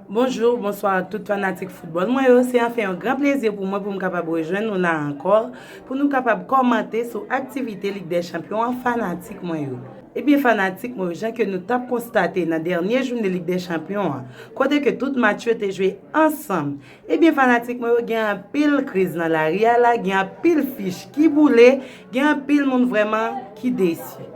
Bonjour, bonsoir ak tout fanatik football mwen yo, se anfen yon gran plezi pou mwen pou m kapab rejwenn nou la ankò, pou nou kapab kòmante sou aktivite Lig dè Chanpyon an fanatik mwen yo. Ebyen fanatik mwen yo jan ke nou tap konstate nan dènye joune Lig dè Chanpyon an, kote ke tout match yo te jwe ansanm, ebyen fanatik mwen yo gen anpil kriz nan lari a la, gen anpil fich ki boule, Gen anpil moun vrèman ki desi.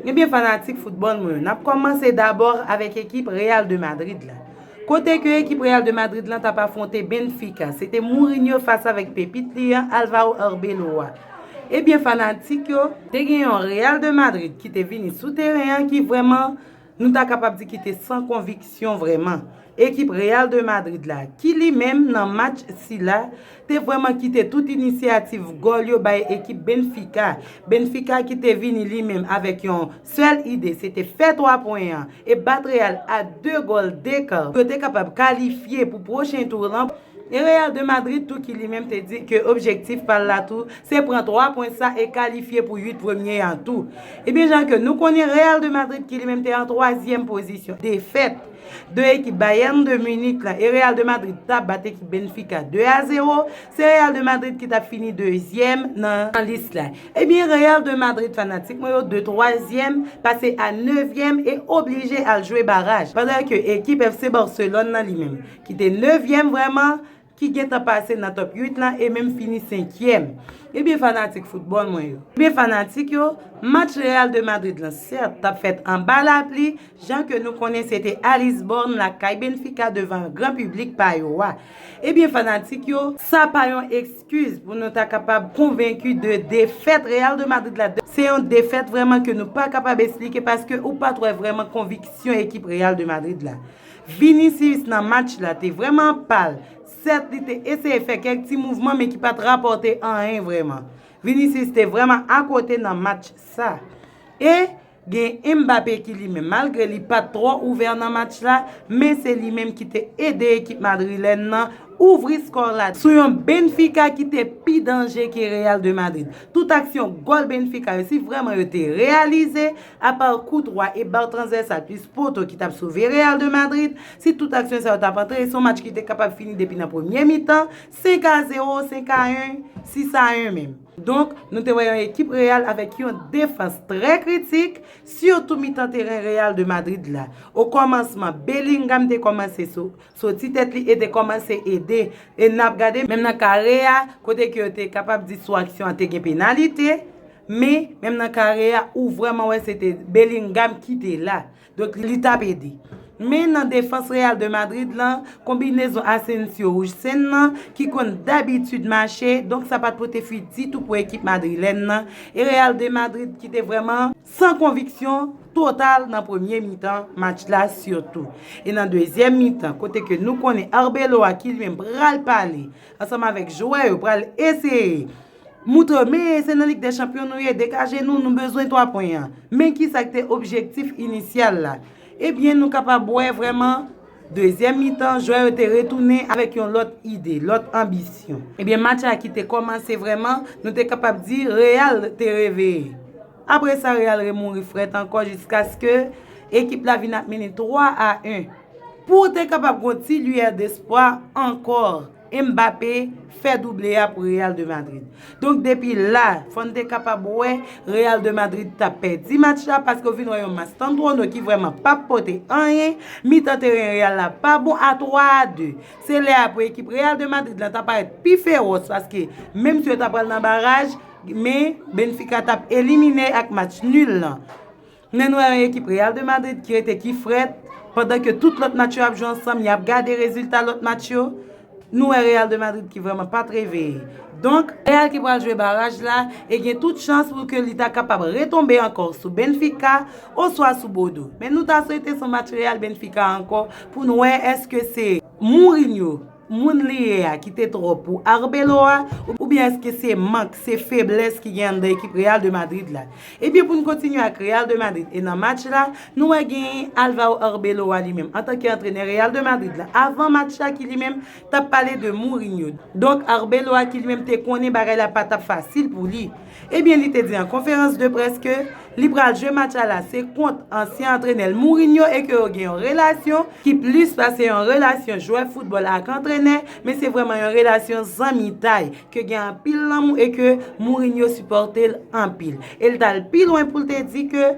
Ebyen fanatik foutbòl mwen yo, nap kòmanse dabò avèk ekip Real de Madrid la. Kote ke ekip Real de Madrid lan tap afwonte Benfica, se te Mourinho fas avèk pepit li an Alvaro Arbeloa. Ebyen fanatik yo, te gen yon Real de Madrid ki te vini sou teren an ki vrèman Nou ta kapab di ki te san konviksyon vrèman. Ekip Real de Madrid la, ki li menm nan match sila, te vrèman kite tout inisyativ gòl yo bay ekip Benfica. Benfica ki te vini li menm avèk yon sèl ide, se te fè 3 pwen an e bat Real a 2 gòl dekar pou yo te kapab kalifye pou pwochen tour lan. E Real de Madrid tou ki li menm te di ke objektif pa l la tou se pran 3 pwen sa e kalifye pou 8 premye an tou. Ebyen jan ke nou konnen Real de Madrid ki li menm te an twazyèm pozisyon, defèt de ekip Bayern de Munich la e Real de Madrid ta bat ekip Benfica 2 a 0, se Real de Madrid ki tap fini dezyèm nan lis la. Ebyen Real de Madrid fanatik mwen yo de twazyèm pase a nevyèm e oblije al jwe baraj, pandan ke ekip FC Barcelone nan li menm, ki te nevyèm vrèman, ki gentan pase nan top 8 lan e menm fini senkyèm. Ebyen fanatik foutbòl mwen yo. Ebyen fanatik yo, match Real de Madrid lan sèt tap fèt anba lapli, jan ke nou konnen se te a Lisbòn lakay Benfica devan gran piblik pa yo a. Ebyen fanatik yo, sa pa yon ekskiz pou nou ta kapab konvenki de defèt Real de Madrid la, se yon defèt vrèman ke nou pa kapab esplike paske ou pat wè vrèman konviksyon ekip Real de Madrid la. Vinicius nan match la te vrèman pal, sèt li te eseye fè kèk ti mouvman men ki pat rapòte anyen vrèman. Vinicius te vrèman akote nan match sa. E gen Mbappé ki li menm malgre li pat twò ouvè nan match la men se li menm ki te ede ekip madrilèn nan ouvri skò la sou yon Benfica ki te pi danje ke Real de Madrid. Tout aksyon gòl Benfica yo si vrèman yo te reyalize, Apa Courtois e bal transversal plis poto ki tap sove Real de Madrid, si tout aksyon sa yo tap antre, se yon match ki te kapab fini depi nan premye mitan, 5 a 0, 5 a 1, 6 a 1 menm. Donk, nou te wè yon ekip Real avèk yon defans trè kritik, sitou mitan teren Real de Madrid la. O kòmansman, Bellingham te kòmanse soti tèt li e te kòmanse ede, e nap gade menm nan kare a, kote ke yo te kapab di sou aksyon an te gen penalite, Men, menm nan kare a, ou vrèman wè se te Bellingham ki te la. Donk, li t ap ede. Men, nan defans Real de Madrid lan, konbinezon Asensio-Huijsen lan, ki konn dabitid mache, donk sa pa t pote fwi ditou pou ekip madrilèn lan, e Real de Madrid ki te vrèman san konviksyon total nan premye mitan match la sitou. E nan dezyèm mitan, kote ke nou konnen Arbeloa ki li menm pral pale ansanm avèk jwè yo, pral eseye. Moutre, men se nan Lig dè Chanpyon nou ye, degaje nou, nou bezwen 3 pwen an. Men ki sa k te objektif inisyal la. Ebyen nou kapab wè vrèman, dezyèm mitan, jwè yo te retounen avèk yon lòt ide, lòt anbisyon. Ebyen match la ki te kòmanse vrèman, nou te kapab di Real te reveye. Apre sa Real remouri frèt ankò jiskaske ekip la vin ap mennen 3 a 1. Pou te kapab gen yon ti liyè despwa ankò. Mbappé fè double a pou Real de Madrid. Donk depi la, fò n te kapab wè Real de Madrid t ap pèdi match la paske w vin wè yon Mastantuono ki vrèman pa p pote anyen, mitan teren Real la pa bon a 3 a 2. Se lè a pou ekip Real de Madrid la ta parèt pi fewòs paske menm si yo ta pral nan baraj, men Benfica t ap elimine ak match nul lan. Nen nwè an ekip Real de Madrid ki rete ki frèt, pandan ke tout lòt match yo ap jwe ansanm, yap gade rezilta lòt match yo, nou wè Real de Madrid ki vrèman pat reveye. Donk, Real ki pral jwe baraj la e gen tout chans pou ke li ta kapab retonbe ankò sou Benfica oswa sou Bordeaux. Men nou ta swete son match Real-Benfica ankò pou nou wè eske se Mourinho moun li ye a ki te twòp pou Arbeloa a oubyen èske se mank, se feblès ki gen anndan ekip Real de Madrid la. Ebyen pou n kontinye ak Real de Madrid e nan match la, nou wè genyen Alvao Arbeloa li menm antanke antrenè Real de Madrid la avan match la ki li menm t ap pale de Mourinho. Donk Arbeloa ki li menm te konnen bagay la pa t ap fasil pou li. Ebyen li te di an konferans de près ke li pral jwe match a la se kont ansyen antrenè l Mourinho e ke yo gen yon relasyon ki plis pase yon relasyon jwè foutbòl ak antrenè men se vrèman yon relasyon zanmitay ke gen anpil lanmou e ke Mourinho sipòte l anpil e l t al pi lwen pou l te di ke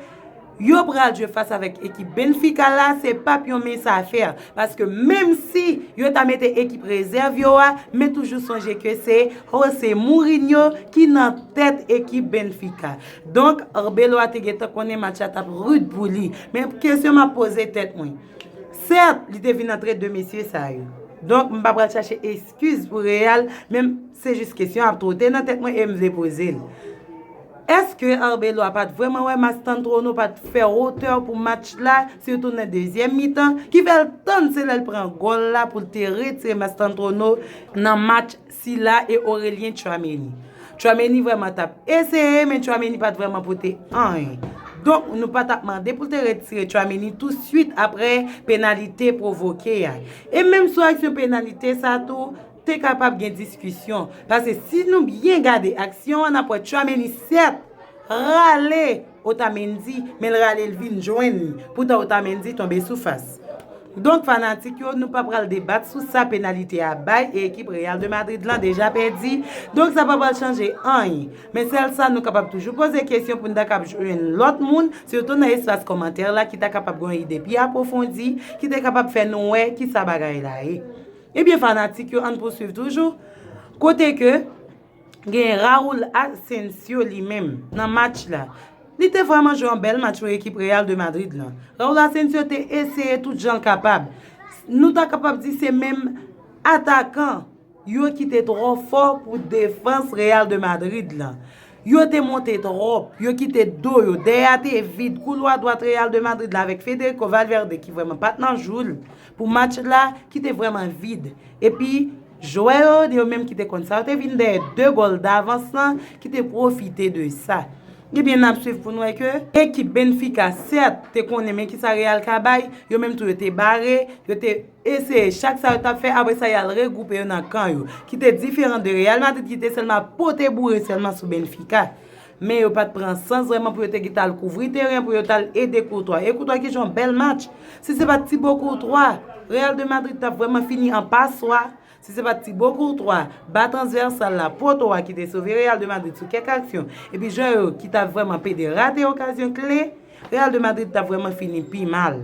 Yo pral jwe fas avèk ekip Benfica la se pap yon mens a fè paske menm si yo ta mete ekip rezèv yo a men toujou sonje ke se Jose Mourinho ki nan tèt ekip Benfica donk Arbeloa te gentan konnen match la tap rud pou li men kesyon map poze tèt mwen sèt li te vin antre 2 mesye sa yo donk m pa pral chache eskiz pou Real men se jis kesyon ap twote nan tèt mwen e m vle poze l. Eske Arbeloa pat vrèman wè Mastantuono pat fè otè pou match la, sitou nan dezyèm mitan, ki fèl tann se lèl pran gòl la poul te retire Mastantuono nan match sila e Aurelien Tchouaméni. Tchouaméni vrèman tap eseye men Tchouaméni pat vrèman pote anyen. Donk nou pa tap mande poul te retire Tchouaméni tou swit aprè penalite pwovoke a. E menm sou aksyon penalite sa tou, Te kapab gen diskisyon, pase si nou byen gade aksyon an nap wè Tchouameni sèt rale Otamendi men l rale l vin jwenn li poutan Otamendi tonbe sou fas. Donk fanatik yo nou pa pral debat sou sa penalite a bay e ekip Real de Madrid lan deja pèdi donk sa pa pral chanje anyen men sèl sa nou kapab toujou poze kesyon pou n ta kab jwenn lòt moun sitou nan espas kòmantè la ki ta kapab gen yon ide pi apwofondi ki te kapab fè nou wè kisa bagay la ye. Ebyen fanatik yo ann pouswiv toujou kote ke gen Raul Asensio li menm nan match la li te vrèman jwe yon bèl match pou ekip Real de Madrid lan. Raul Asensio te eseye tout jan l kapab. Nou ta kapab di se menm atakan yo ki te twò fò pou defans Real de Madrid lan. Yo te monte twòp, yo kite do yo, dèyè a te vid, koulwa dwat Real de Madrid la avèk Federico Valverde ki vrèman pat nan jou l. pou match la ki te vrèman vid. Epi, jwè yo, yo menm ki te konn sa, yo te vin dèyè 2 gòl davans lan ki te pwofite de sa. Ebyen, n ap swiv pou n wè ke ekip Benfica sèt te konnen men ki sa Real ka bay, yo menm tou yo te bare, yo te eseye chak sa yo t ap fè, apre sa y al regwoupe yo nan kan yo, ki te diferan de Real Madrid ki te sèlman ap pote boure sèlman sou Benfica. Men yo pat pran sans vreman pou yo te gita al kouvri teren pou yo tal ede Courtois. E Courtois ki jwe yon bèl match. Si se pat Thibaut Courtois, Real de Madrid tap vreman fini an paswa. Si se pat Thibaut Courtois, ba transversal la, poto a ki te sove Real de Madrid sou kèk aksyon, epi jwè yo ki ta vreman pede rate okazyon kle, Real de Madrid tap vreman fini pi mal.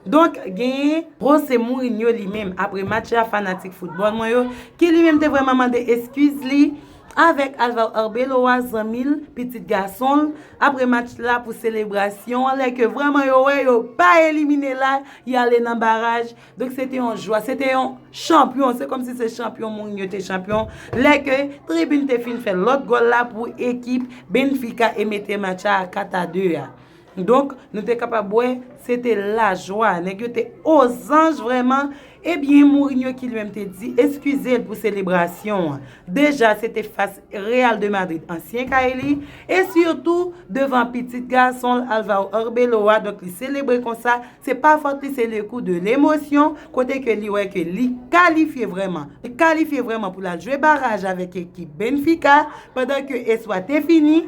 Donk genyen. Jose Mourinho li menm apre match la fanatik foutbòl mwen yo ki li menm te vrèman mande eskiz li avèk Alvaro Arbeloa zanmi l, pitit gason l, apre match la pou selebrasyon an lè ke vrèman yo wè yo pa elimine la y ale nan baraj donk se te yon jwa se te yon chanpyon se kòmsi se chanpyon Mourinho te chanpyon lè ke tribin te fin fè lòt gòl la pou ekip Benfica e mete match la a 4 a 2 a. Donk, nou te kapab wè, se te lajwa. Nèg yo te ozanj vrèman. Ebyen, Mourinho ki li menm te di eskize l pou selebrasyon an. Deja, se te fas Real de Madrid, ansyen kay li, e sitou devan pitit gason l, Alvaro Arbeloa, donk li selebre konsa, se pa fòt li, se le kou de lemosyon, kote ke li wè ke li kalifye vrèman. Li kalifye vrèman pou l al jwe baraj avèk ekip Benfica, pandan ke espwa te fini.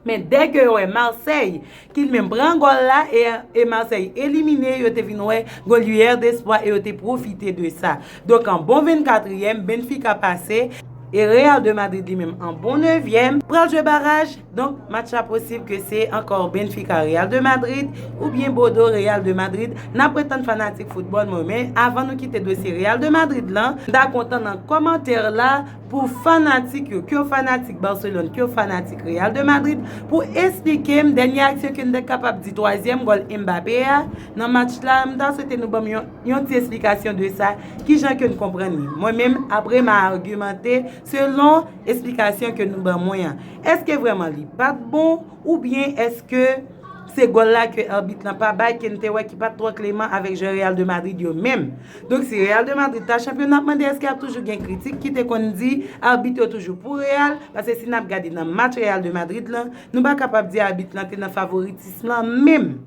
Men dè ke yo wè Marseille ki li menm pran gòl la e Marseille elimine yo te vin wè gòl lueur d'espoir e yo te pwofite de sa. Donk an bon 24 yèm Benfica pase e Real de Madrid li menm an bon 9 yèm pral jwe baraj donk match la posib ke se ankò Benfica Real de Madrid ou byen Bodo Real de Madrid nap ret tann fanatik foutbòl mwen men avan nou kite dosye Real de Madrid lan m ta kontan nan kòmantè la Pou fanatik yo, ke w fanatik Barcelone, ke w fanatik Real de Madrid, pou esplike m dènye aksyon ke m ta kapab di twazyèm gòl Mbappé a nan match la, m ta swete nou ban m yon ti esplikasyon de sa, kijan ke n konprann li. Mwen menm, apre m a argumente selon esplikasyon ke nou ban mwen an. Eske vrèman li pa t bon, oubyen eske se gòl la ke arbit lan pa bay ke n te wè ki pa t twò kleman avèk jwè Real de Madrid yo menm? Donk si Real de Madrid ta chanpyon nap mande eske ap toujou gen kritik ki te konn di arbit yo toujou pou Real, pase si nap gade nan match Real de Madrid lan, nou pa kapab di arbit lan te nan favoritism lan menm.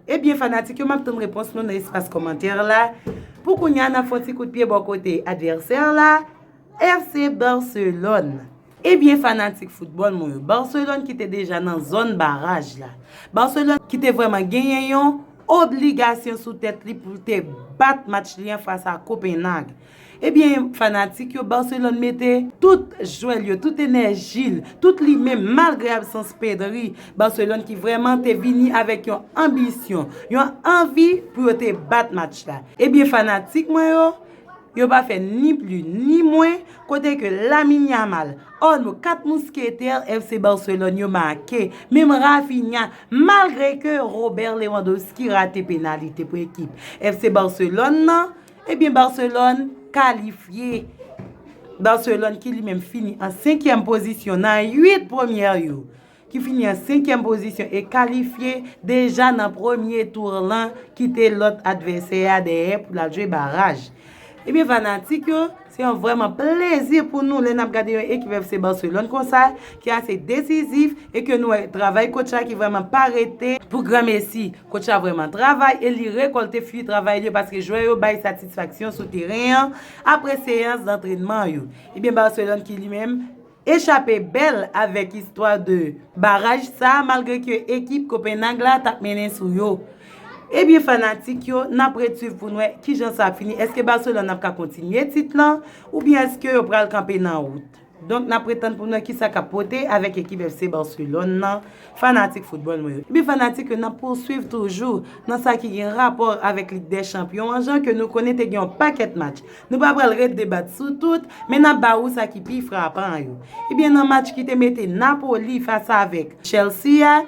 Ebyen fanatik yo map tann repons nou nan espas kòmantè la, pou kounya nap fon ti kout pye bò kote advèsè la FC Barcelone. Ebyen fanatik foutbòl mwen yo, Barcelone ki te deja nan zòn baraj la, Barcelone ki te vrèman genyen yon obligasyon sou tèt li pou l te bat match li an fas a Kopenhag. Ebyen fanatik yo, Barcelone mete tout jwè l yo, tout enèji l, tout li menm malgre absans Pedri, Barcelone ki vrèman te vini avèk yon anbisyon, yon anvi pou yo te bat match la. Ebyen fanatik mwen yo, Yo pa fè ni pli ni mwen kote ke Lamine Yamal, oh no 4 mousketè FC Barcelone yo make, menm Raphinha malgre ke Robert Lewandowski rate penalite pou ekip FC Barcelone nan, ebyen Barcelone kalifye. Barcelone ki li menm fini an 5 yèm pozisyon nan 8 premyè yo. ki fini an senkyèm pozisyon e kalifye deja nan premye tour lan kite lòt advèsè a dèyè pou l al jwe baraj. Ebyen fanatik yo, se yon vrèman plezi pou nou lè n ap gade yon ekip FC Barcelone konsa ki ase desizif e ke nou wè travay kotch la ki vrèman pa rete pou granmesi. Kotch la vrèman travay e li rekòlte fwi travay li yo paske jwè yo bay satisfaksyon sou teren an apre seyans zantrenman yo. Ebyen Barcelone ki li menm Echape bèl avèk istwa 2 baraj sa malgre ke ekip Copenhague la tap mennen sou yo. Ebyen fanatik yo nap ret swiv poun wè kijan sa ap fini eske Barcelone ap ka kontinye tit lan oubyen eske yo pral kanpe nan wout. Donk nap ret tann poun wè kisa kap pote avèk ekip FC Barcelone lan. Fanatik foutbòl mwen yo, epi fanatik yo nan pouswiv toujou nan sa ki gen rapò avèk Lig dè Chanpyon an jan ke nou konnen te gen yon pakèt match. Nou pa pral ret debat sou tout, men n ap ba ou sa ki pi frapan an yo. Ebyen nan match ki te mete Napoli fas avèk Chelsea a,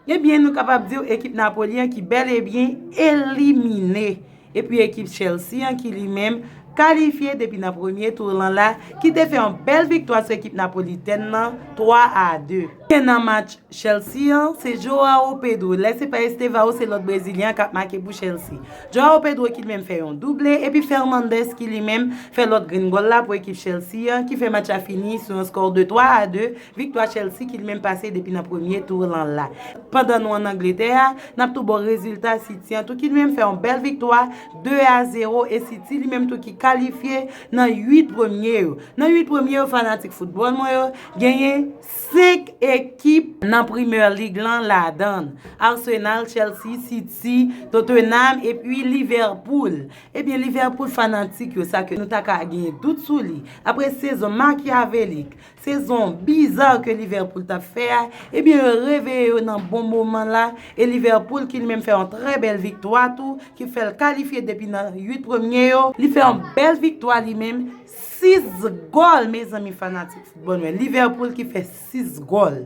ebyen nou kapab di w ekip Napoli an ki bèl e byen elimine. epi ekip Chelsea an ki li menm kalifye depi nan premye tour lan la ki te fè yon bèl viktwa sou ekip napolitèn lan 3 a 2. Byen nan match Chelsea an, se Joao Pedro, lè se pa Estevao se lòt brezilyen an k ap make pou Chelsea. Joao Pedro ki li menm fè yon double epi Fernandes ki li menm fè lòt grenn gòl la pou ekip Chelsea an ki fè match la fini sou yon skò 2 3 a 2 Viktwa Chelsea ki menm pase depi nan premye tour lan la. Pandan nou an Angletè a, nap tou baw rezilta City an tou ki li menm fè yon bèl viktwa 2 a 0 e City li menm tou ki kalifye nan 8 premye yo. Nan 8 premye yo fanatik foutbòl mwen yo, genyen 5 ekip nan Premier League lan ladann, Arsenal, Chelsea, City, Tottenham epi Liverpool. Ebyen Liverpool fanatik yo sa ke nou ta ka genyen dout sou li apre sezon makyavelik Sezon bizar ke Liverpool tap fè a, ebyen yo reveye yo nan bon moman la e Liverpool ki li menm fè yon trè bèl viktwa tou ki fèl kalifye depi nan 8 premye yo, li fè yon bèl viktwa li menm, 6 gòl mezanmi fanatik football mwen, Liverpool ki fè 6 gòl.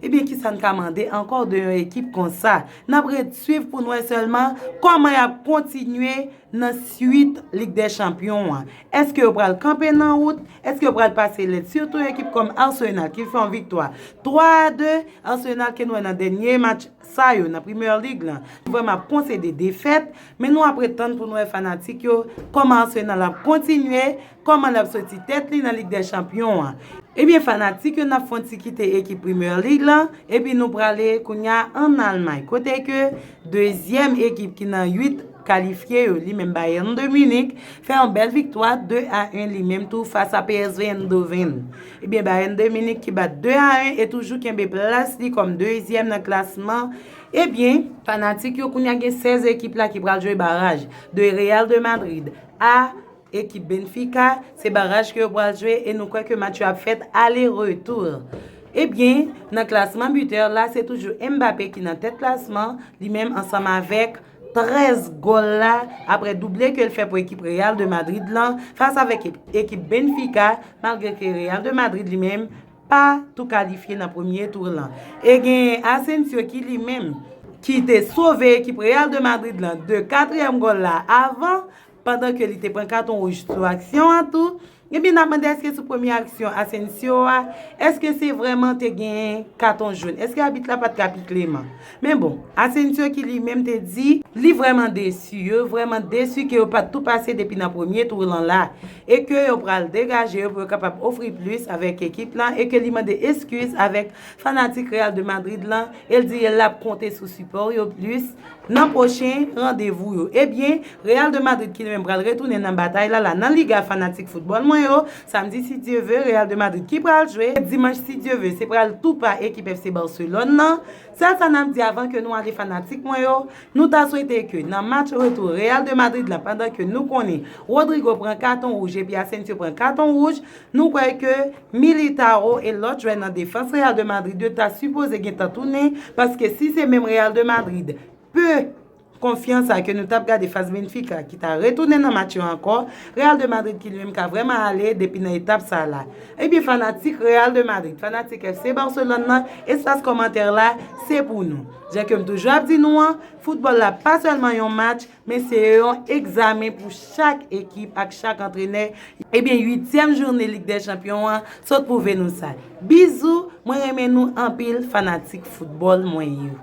Ebyen kisa n ka mande ankò de yon ekip konsa? Nap ret swiv pou n wè sèlman kòman yap kontinye Nan suit Lig dè Chanpyon an, èske yo pral kanpe nan wout? Èske yo pral pase lèd? Sitou ekip kòm Arsenal ki fè yon viktwa 3 a 2, Arsenal ke nou wè nan dènye match sa yo nan Premier League lan, vrèman ap konsede defèt, men nou ap ret tann pou nou wè fanatik yo kòman Arsenal ap kontinye Kòman lap soti tèt li nan lig dè chanpyon an. Ebyen fanatik yo nap fon ti kite ekip Premier League lan epi nou prale kounya an Almay kote ke dezyèm ekip ki nan 8 kalifye yo li menm Bayern de Munich fè yon bèl viktwa 2 a 1 li menm tou fas a PSV Eindhoven. Ebyen Bayern de Munich ki bat 2 a 1 e toujou kenbe plas li kòm dezyèm nan klasman ebyen fanatik yo kounya gen 16 ekip la ki pral jwe baraj de Real de Madrid a Ekip Benfica, se baraj ke yo pral jwe e nou kwè ke match yo ap fèt ale retou. Ebyen, nan klasman butè la se toujou Mbappé ki nan tèt klasman, li menm ansanm avèk 13 gòl la aprè double ke l fè pou ekip Real de Madrid lan fas avèk ekip Benfica malgre ke Real de Madrid li menm pa tou kalifye nan premye tour lan e genyen Asensio ki li menm ki te sove ekip Real de Madrid lan de katriyèm gòl la avan pandan ke li te pran katon wouj sou aksyon an tou, ebyen n ap mande èske sou premye aksyon Asensio a, èske se vrèman te genyen katon joun, èske abit la pa t ka pi kleman. Men bon, Asensio ki li menm te di, li vrèman desi, yo vrèman desi ke yo pa t tou pase depi nan premye tou lan la, e ke yo pral degaje yo pou yo kapab ofri plis avèk ekip lan, e ke li mande eskiz avèk fanatik Real de Madrid lan, e l di l ap konte sou sipò yo plis. nan pwochen randevou yo. Ebyen, Real de Madrid ki li menm pral retounen nan batay la la nan Liga fanatik foutbòl mwen yo, Samdi si Dye ve, Real de Madrid ki pral jwe, Dimanch si Dye ve, se pral tou pa ekip FC Barcelone nan. Sèl sa n'ap di avan ke nou ale fanatik mwen yo, nou ta swete ke nan match retou Real de Madrid la pandan ke nou konnen Rodrygo pran katon wouj epi Asensio pran katon wouj, Nou kwè ke Militao e lòt jwè nan defans Real de Madrid yo ta sipoze gentan tounen paske si se menm Real de Madrid pe konfyans a ke nou tap gade fas Benfica ki ta retounen nan match yo ankò, Real de Madrid ki li menm ka vrèman ale depi nan etap sa la. Ebyen fanatik Real de Madrid, fanatik FC Barcelone nan, espas kòmantè la se pou nou. Jan ke m toujou ap di nou an, foutbòl la pa sèlman yon match, Men se yon egzamen pou chak ekip ak chak antrenè. Ebyen uityèm joune lig dè chanpyon an sot pwouve nou sa. Bizou, mwen renmen nou anpil fanatik foutbòl mwen yo.